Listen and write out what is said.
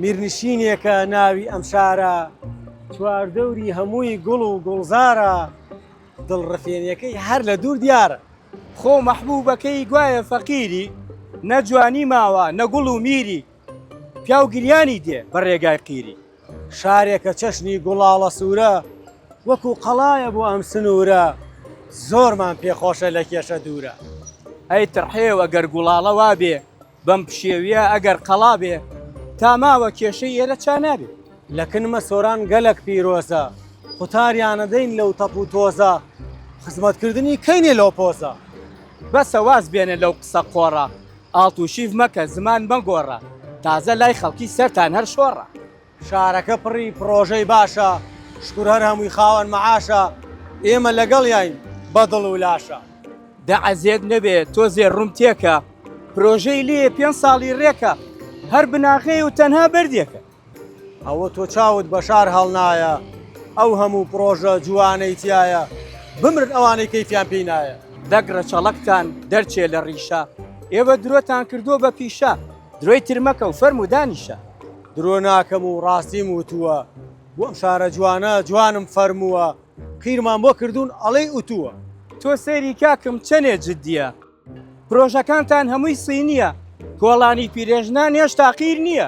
میرنشینێکە ناوی ئەم شارە چواردەوری هەمووی گوڵ و گوڵزارە دڵڕفێنەکەی هەر لە دوور دیارە خۆ مەحبوبەکەی گوایە فەقیری نە جوانی ماوە نە گوڵ و میری پیاو گریانی دێ بە ڕێگای قیری شارێکە چەشنی گوڵاڵە سوورە وەکو قەڵایە بۆ ئەم سنوورە زۆرمان پێخۆشە لە کێشە دوورە ئەی تڕحێو ئەگەر گوڵاڵە وابێ بەم پشێویە ئەگەر قەڵا بێ تا ماوە کێشەی ئێرە چا نابێ. لە کنمە سۆران گەلەک پیرۆزە. قوتاریانە دەین لەو تەپ و تۆزە. خزمەتکردنی کەینێ لەو پۆزە. بەسە واز بێنە لەو قسە قۆڕە. ئاڵتوشیڤ مەکە زمان مەگۆڕە. تازە لای خەڵکی سەرتان هەر شۆڕە. شارەکە پڕی پڕۆژەی باشە شکور هەر هەمووی خاوەن مەعاشە ئێمە لەگەڵیاین بە دڵ و لاشە. دە عەزێت نەبێ تۆزێ ڕووم تێکە پرۆژەی لێیە پێنج ساڵی ڕێکە هەر بناغەیە و تەنها بەردێکە. ئەوە تۆ چاوت بە شار هەڵنایە ئەو هەموو پڕۆژە جووانەی تیایە بمرن ئەوانەی کەیفیان پێی نایە. دەک ڕەچەڵەکتان دەرچێ لە ڕیشە ئێوە درۆتان کردووە بە پیشە درۆی تر مەکە و فەرموو دانیشە. درۆ ناکەم و ڕاستیم وتووە بۆ ئەم شارە جوانە جوانم فەرمووە قیرمان بۆ کردوون ئەڵێی ئوتووە. تۆ سەیری کاکم چەنێ جدیە. پرۆژەکانتان هەمووی صینیە. کۆڵانی پیرێژنان هێشتا قیر نیە.